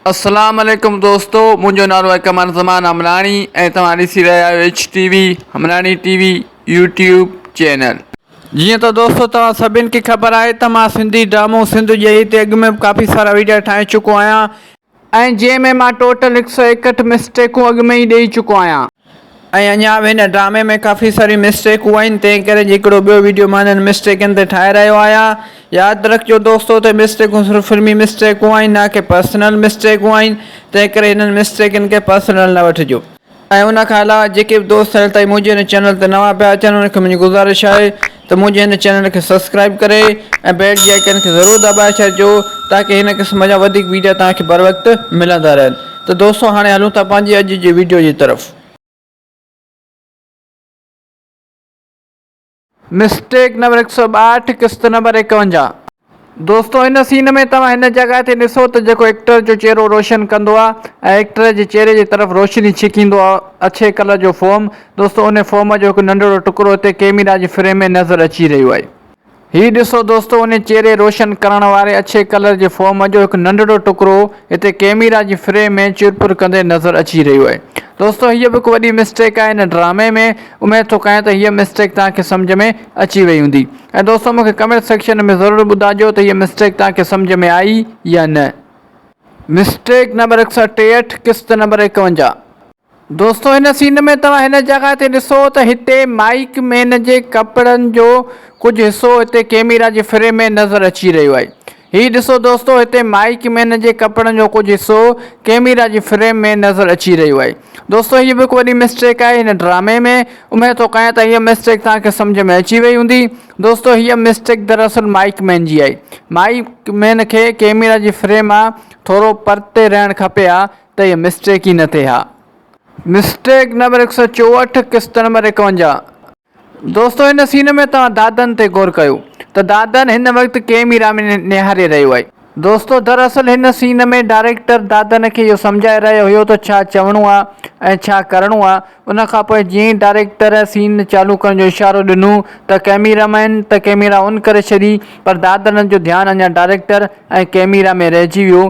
اسلام عليڪم دوستو منهنجو نالو آهي قمر زمان همراڻي ۽ توهان ڏسي رهيا آهيو H T V Hamrani T V YouTube channel جيئن ته دوستو توهان سڀين کي خبر آهي ته مان سنڌي ڊرامو سنڌ ڄئي تي اڳ ۾ به ڪافي سارا ويڊيا ٺاهي چڪو آهيان ۽ جنهن ۾ مان ٽوٽل هڪ سؤ ايڪهٺ مسٽيڪون اڳ ۾ ئي ڏئي چڪو آهيان. ۽ اڃا به هن ڊرامي ۾ ڪافي ساريون مسٽيڪون آهن تنهن ڪري جي هڪڙو ٻيو ويڊيو مان انهن مسٽيڪن تي ٺاهي رهيو آهيان ياد رکجو دوستو ته مسٽيڪون صرف فلمي مسٽيڪون آهن نه ڪي پرسنل مسٽيڪون آهن تنهن ڪري هنن مسٽيڪن کي پرسنل نه وٺجو. ۽ ان کان علاوه جيڪي به دوست هل تائين منهنجي هن چينل تي نوان پيا اچن انهن کي منهنجي گذارش آهي ته منهنجي هن چينل کي سبسڪرائيب ڪري ۽ بيل جي آئيڪن کي ضرور دٻائي ڇڏجو تاڪه هن قسم جا وڌيڪ ويڊيا توهان کي بروقت ملندا رهن ته دوستو هاڻي هلون ٿا پنهنجي اڄ جي ويڊيو جي طرف. مسٽيڪ نمبر هڪ سؤ ٻاهٺ قسط نمبر ايڪونجاهه. دوستو ان سين ۾ توهان هن جڳهه تي ڏسو ته جيڪو ايڪٽر جو چهرو روشن ڪندو آ ۽ ايڪٽر جي چهري جي طرف روشني ڇڪيندو آ اڇي ڪلر جو فوم دوستو ان فوم جو هڪ ننڍڙو ٽڪرو هتي ڪيميرا جي فريم ۾ نظر اچي رهيو آهي هي ڏسو دوستو ان چهري روشن ڪرڻ واري اڇي ڪلر جي فوم جو هڪ ننڍڙو ٽڪرو هتي ڪيميرا جي فريم ۾ چرپر ڪندي نظر اچي رهيو آهي دوستو هيء به هڪ وڏي مسٽيڪ آهي هن ڊرامي ۾ اميد ٿو ڪيان ته هيء مسٽيڪ توهان کي سمجهه ۾ اچي وئي هوندي. ۽ دوستو مون کي ڪمينٽ سيڪشن ۾ ضرور ٻڌاجو ته هيء مسٽيڪ توهان کي سمجهه ۾ آئي يا نه. مسٽيڪ نمبر هڪ سئو ٽيهٺ قسط نمبر ايڪاونجاهه. دوستو هن سين ۾ توهان هن جڳهه تي ڏسو ته هتي مائيڪ مين جي ڪپڙن جو ڪجهه حصو هتي ڪيميرا جي فريم ۾ نظر اچي رهيو آهي هي ڏسو دوستو هتي مائيڪ مين جي ڪپڙن جو ڪجهه حصو ڪيميرا جي فريم ۾ نظر اچي رهيو آهي دوستو هيء به هڪ وڏي مسٽيڪ آهي هن ڊرامي ۾ اميد ٿو ڪيان ته هيء مسٽيڪ توهان کي سمجهه ۾ اچي وئي هوندي دوستو هيء مسٽيڪ دراصل مائيڪ مين جي آهي مائيڪ مين کي ڪيميرا جي فريم مان ٿورو پرتي رهڻ کپي ها ته هيء مسٽيڪ ئي نه ٿئي ها مسٽيڪ نمبر هڪ سؤ چوهٺ قسط نمبر ايڪونجاهه. دوستو هن سين ۾ توهان دادن تي غور ڪيو ته دادن هن وقت ڪيميرا ۾ نهاري رهيو آهي. دوستو در اصل هن سين ۾ ڊائريڪٽر دادن کي اهو سمجهائي رهيو هيو ته ڇا چوڻو آهي ۽ ڇا ڪرڻو آهي ان کان پوء جيئن ئي ڊائريڪٽر سين چالو ڪرڻ جو اشارو ڏنو ته ڪيميرا مين ته ڪيميرا ان ڪري ڇڏي پر دادن جو ڌيان اڃا ڊائريڪٽر ۽ ڪيميرا ۾ رهجي ويو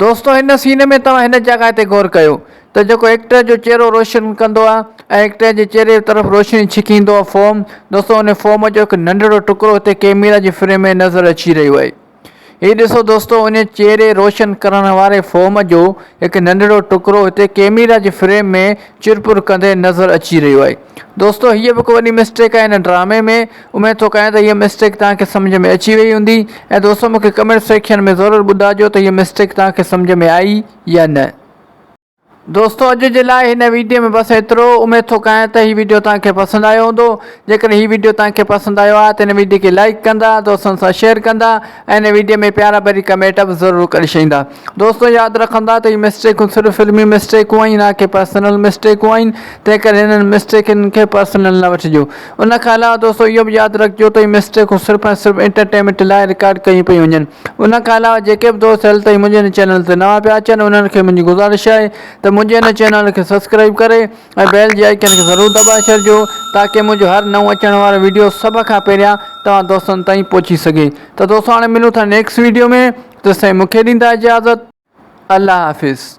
دوستو هن سين ۾ توهان هن جڳهه تي غور ڪيو ته جيڪو ايڪٽر جو چهرو روشن ڪندو آهي ۽ ايڪٽر جي چهري طرف روشني ڇڪيندو آهي فوم دوستو ان فوم جو هڪ ننڍڙو ٽڪرو هتي ڪيميرا جي فريم ۾ نظر اچي رهيو آهي هي ڏسو دوستو ان چهري روشن ڪرڻ واري فوم جو هڪ ننڍڙو ٽڪرو هتي ڪيميرا جي فريم ۾ چرپر ڪندي نظر اچي رهيو آهي دوستو هيء به هڪ وڏي مسٽيڪ آهي هن ڊرامي ۾ اميد ٿو ڪريان ته هيء مسٽيڪ توهان کي سمجهه ۾ اچي وئي هوندي ۽ دوستو مون کي ڪمينٽ سيڪشن ۾ ضرور ٻڌائجو ته هيء مسٽيڪ توهان کي سمجهه ۾ آئي يا نه. دوستو اڄ جي لاء هن ويڊيو ۾ بس ايترو اميد ٿو ڪريان ته هي ويڊيو توهان کي پسند آيو هوندو جيڪڏهن هي ويڊيو توهان کي پسند آيو آهي ته هن ويڊيو کي لائيڪ ڪندا دوستن سان شيئر ڪندا ۽ هن ويڊيو ۾ پيارا ڀري ڪمينٽ به ضرور ڪري ڇڏيندا دوستو ياد رکندا ته هي مسٽيڪون صرف فلمي مسٽيڪون آهن نه ڪي پرسنل مسٽيڪون آهن تنهن ڪري هنن مسٽيڪن کي پرسنل نه وٺجو ان کان علاوه دوستو اهو به ياد رکجو ته هي مسٽيڪون صرف ۽ صرف انٽرٽينمينٽ لاء رڪارڊ ڪيون پيون وڃن ان کان علاوه جيڪي به دوست هل تائين منهنجي هن چينل تي نوان پيا اچن انهن کي منهنجي گذارش آهي ته منهنجي هن چينل کي سبسڪرائيب ڪري ۽ بيل جي آئيڪن کي ضرور دٻائي ڇڏجو تاڪه منهنجو هر نئون اچڻ وارو ويڊيو سڀ کان پهريان توهان دوستن تائين پهچي سگهي ته دوستو هاڻي ملون ٿا نيڪسٽ ويڊيو ۾ تيستائين مونکي ڏيندا اجازت. الله حافظ.